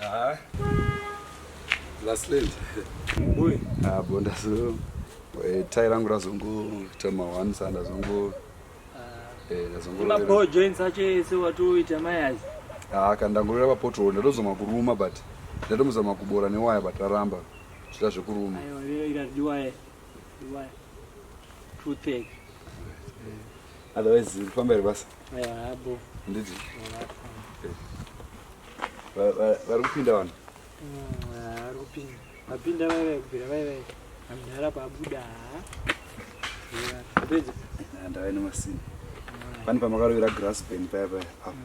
Ah. Last late. Boy. Ah, bonda so. Eh, tai rangu razongo tama one sanda zongo. Ah. Eh, razongo. Ma po join sache se watu ita mayazi. Ah, kanda ngorera pa portal ndozoma kuruma but ndatomuzama kubora newaya but raramba. Zvita zvekuruma. Ayo, rira ira diwaye. Diwaye. Two take. Otherwise, pamberi basa. handiti vari kupinda vanhu vari kupinda vapinda vaive kubvira vaive amdhara pabuda pedza ndave nemasini pani pamakarovera grass band paya paya apo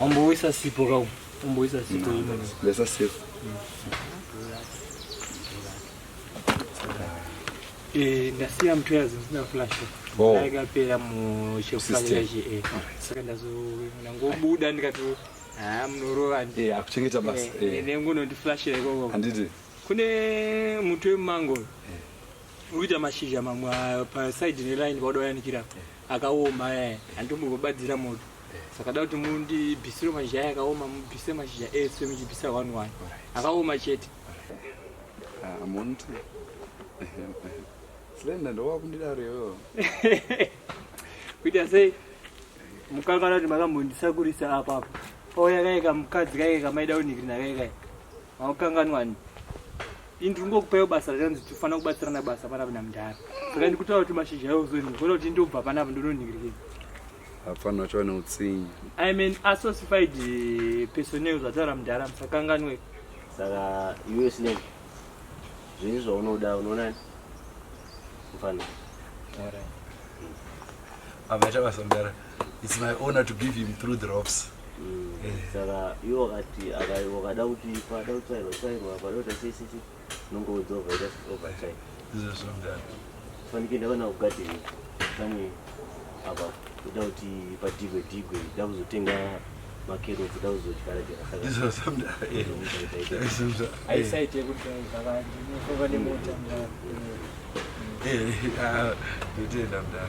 Wamboisa sipo ka umboisa sipo mm. imwe. Lesa sipo. Eh, ndasiya mtu yazi ndina flash. Oh. Ndakapera mu chefukanya chi eh. Saka ndazo ndangobuda ndikati ah munorova ndi. Eh, akuchengeta basa. Eh, eh. nengu no ndi flash ikoko. Handiti. Kune mtu wemango. Eh. Uita mashizha mamwa pa side ne line kwadoyanikira. Eh. akaoma eh, handi mugobatsira moto eh. saka da kuti mundibvisire mashizha aya akaoma mubvise mashizha ese muchibvisa one one akaoma chete ah, muntu slenda ndowakundidaro iyoyo kuita sei mukakana kuti makambondisakurisa apapo pauya kaika mukadzi kaika kamaida unhikirina kaikaika Haukanganwani. Ini ndiri kungokupaiwo basa rakanzi tinofanira kubatsirana basa panapa namudhara. Saka ndikutaura kuti mashizha ayo uzonhi. Kona kuti ndobva panapa ndononhingirikei. Hapana chava neutsinye. I mean associated eh, personnel zvataura mudhara musakanganwe. Saka iwe slave. Zviri zvaunoda unoona mfana. Tara. Abaita basa mdara. It's my honor to give him through the ropes. Mm. Eh. Saka iwo wakati akada kuti pada utsairwa tsairwa pada kuti sisi nongo udzova ita overtime. Izvo zvomdara. Fanike ndakana kugadheni kamwe apa kuda kuti padigwe digwe da kuzotenga makerotsi da kuzodyara jeraaisaite kuti vakanemotandotoenda mdara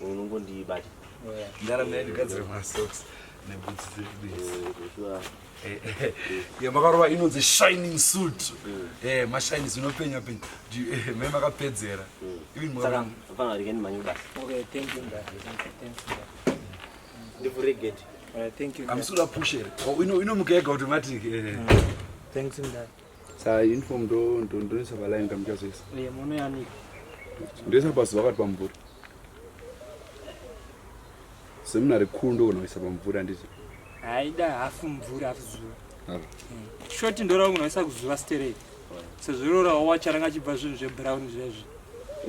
unongondibata ndarame yandigadzira masocks neboots dzedu Eh, eh, eh, makarova inonzi shining suit mm. mashines inopenya penya mai makapedzera amusura pushere inomuka yega kuti mati mm. Sa uniform ndo ndo ndo nisa bala inga mjazo isa. Oye mono ya ni. Ndo isa basi wakati pamvura. Semina rikuru ndo kuna isa pamvura ndizo. Haida hafu mvura hafu zuva. Haro. Hmm. Shoti ndo ra kuna isa kuzuva stere. Se zviro ra wa charanga chibva zvinhu zve brown zve zve.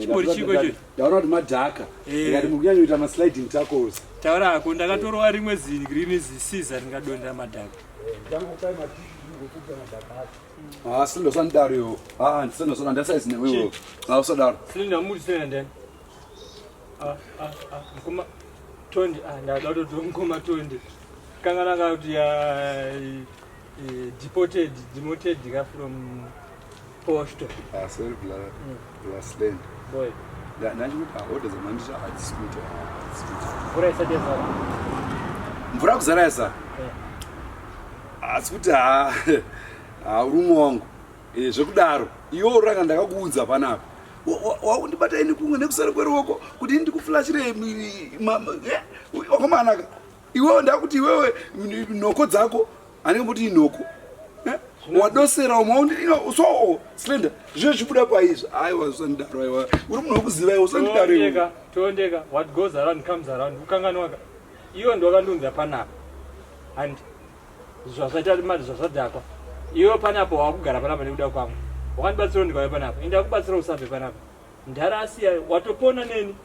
Chimori chiko cho. Daura kuti madhaka. Eh. Ngati mukunyanya kuita ma sliding tackles. Taura hako ndakatorwa rimwe zi green zi scissor ringadonda madhaka. Ah, silindo sanidaro yo ah ndisilindo sona ndasaizi newewo nawo sodaro silindo amuri sena ndani ah, ah, ah, mkoma tondi ah, ndada kutoti mkoma tondi kanga nanga kuti ya eh, eh, deported demoted ka from Posto. Ah, sorry brother. Mm. You are slain. Boy. Da nangu pa order za mandisha hadi scooter. Mvura isa dia zara. Mvura kuzara isa. Eh. Ah, scooter. Ah, ah urumo wangu. Eh, zvekudaro. Iwo uranga ndakakuunza panapa. Waundibata ini kunge nekusara kweruoko kuti ndikuflashire eh, wakomanaka. Iwewe ndakuti iwewe nhoko dzako anenge kuti inhoko eh? wadosera umwe undino so oh, slender zviye zvibuda paizvo aiwa usandidaro aiwa uri munhu wekuziva iwe usandidaro iwe toondeka what goes around comes around ukanganwaka iwe ndwakandiunza panapa and zvazvaita mari zvazvadhakwa iwe panapa wakugara panapa nekuda kwangu wakandibatsira ndikauya panapa ende akubatsira usabve panapa ndhara asiya watopona neni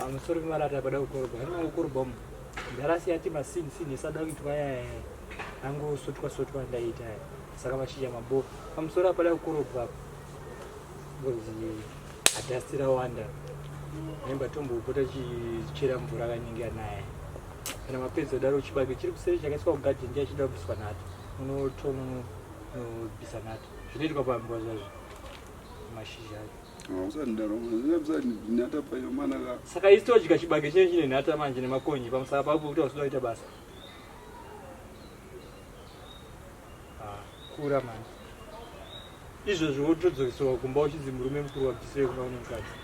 amusori kumarata pada kukorobha anima kukorobha umu ndarasiyati masini sini esada kuitwa yaya angosotwa sotwa ndaita ya saka mashizha maboo pamusoro apada kukorobha ngozi adhasti rawanda nemba tombopota chichera mvura kanenge anaya kana mapedza daro chibage chiri kuseri chakaiswa kugadhi ndiye achida kubviswa nato unotonobvisa nato zvinoitwa pamvua zvazvo mashizha acho saka isi todya chibage chinenge chine nhata manje nemakonye pamusava pavo pokuti hausi kudaita basa ah, kura manje izvozvo wotodzokeserwa kumba uchinzi murume mukuru wabvisire kumba kune mukadzi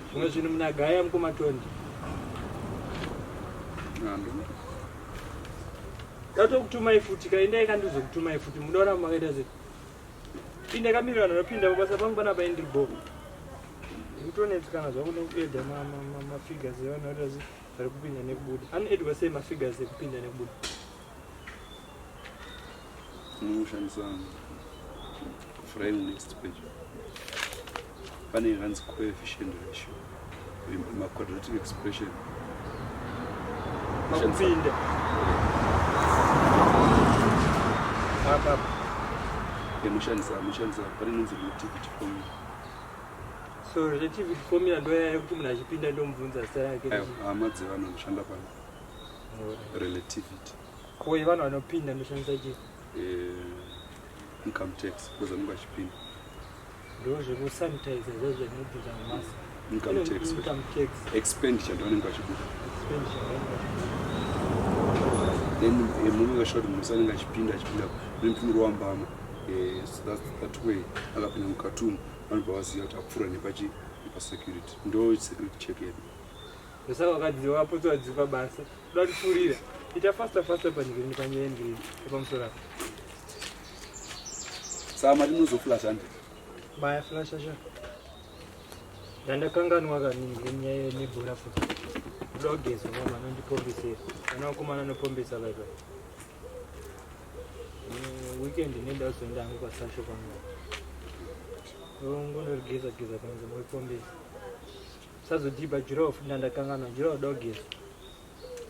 zvimwe zvinhu munagaya mukomatondi ndatokutumai futi kaindai kandizokutumai futi munoona makaita sei Pinda kamiri vanhu vanopinda pabasa pangu panapa ini ndiri bhoo. Ndikutonetsikana zvangu nekuedha mafigures evanhu vari vazi vari kupinda nekubuda. Anoedwa sei mafigures ekupinda nekubuda? Unoshandisa frame next page. pane inganzi coefficient ratio maquadratic expression makupinde apa yamushandisa amushandisa pane inonzi relativity formula so relativity formula ndoyaya yekuti munhu achipinda ndomubvunza zita rake hama dzevanhu anoshanda pano relativity ko yevanhu vanopinda ndoshandisa chii eh, income tax because anenge achipinda ndozvekusanitizer zvezvekubvisa mumasa income tax income tax expenditure ndovanenge vachibuda then eh, murume vashoti musa anenge achipinda achipinda nemtumiro wambama eh, that way akapinda mukatumu vanobva vaziva kuti apfuura nepachi nepasecurity ndo security check yedu ndosaka vakadzi vakapotsa vadzipa basa kuda kutipfurira ita faster faster panyika nepanyaya yendirini epamusoro apo Saka mati munozoflasha ndi? Maya flasha sha. Ndandakanganwa kaningi nyaya nebhora futi. Ndoda kugeza mama anondipombisira. Ana wakomana anopombisa bye bye. Mm, weekend nenda kuzoenda hangu kwasasho kwangu. Ngonogeza geza kwangu moipombisa. Sazodhiba jirofu ndandakanganwa jirofu dogeza.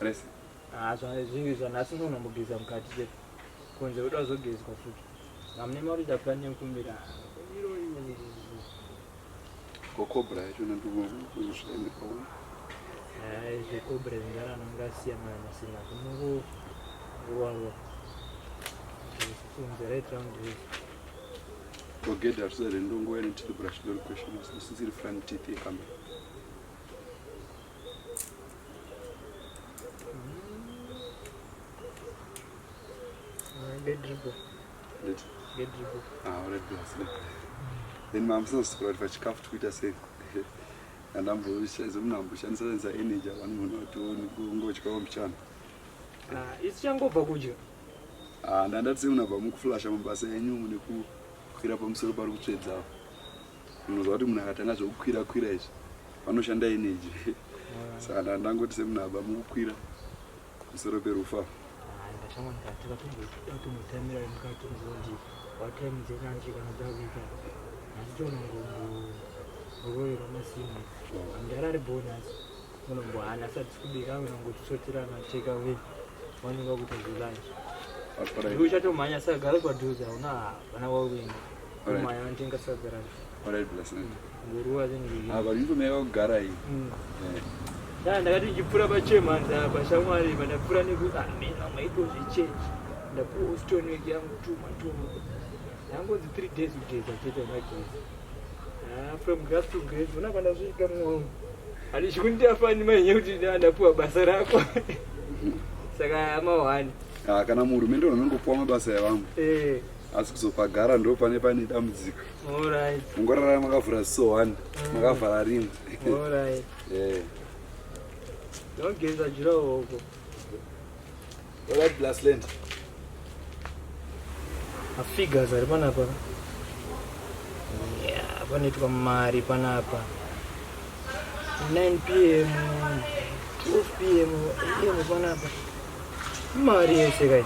Resi. Ah, zva- zvinhu izvo nhasi unoona mbogeza mukati chete kunze uda kuzogezwa futi hamune mari ita plan yekumbira iro iro iro. kokobra yacho nandokushaenda paona Hai, zvekobra zvingara nongasiyanana nasina kunongo ruwarwa kunze right round here. togeda risa rendongouya netitobra chidori question asi isisiri front teeth yekamera then mamusazosukura kuti pachikafu tikuita sei andambozomnamboshandisaaisa energy avani munhu vationi kungochikawo mchana ah, isi changobva kudya ah, ndandatise munabva mukuflasha mabasa enyu nekukwira pamusoro pari kutsvedzawo Unoziva kuti munhu akatanga zvekukwira kwira izvi vanoshanda energy saka ndaa ndangoti semunhu aba mukukwira musoro perufa unombohana sati kubika unongotisotirana take away wanenge wakutozilanji uchatomhanya saka gara kwadhuza una vana wauenda ndakati ndichipfura pachemhanza apa shamwari pandapfura nekuti amena maitozvichenji ndapuwa ustone weki yangu tuma tuma yangonzi three days kugeza chete magezi ah, from grass to grace ona pandasvika mwoyo handichikundiafani mainye kuti ndapuwa basa rako saka amawani ah, kana muhurumende unongopuwa mabasa evamwe eh. asi kuzopagara ndo pane pane dambudziko mungorara makavhura ziso one mm. makavhara rimwe ndogeza jurahoko oratblasland afigures ari panapa panoitwa mari panapa 9 pm 12 pm am panapa mari yese kai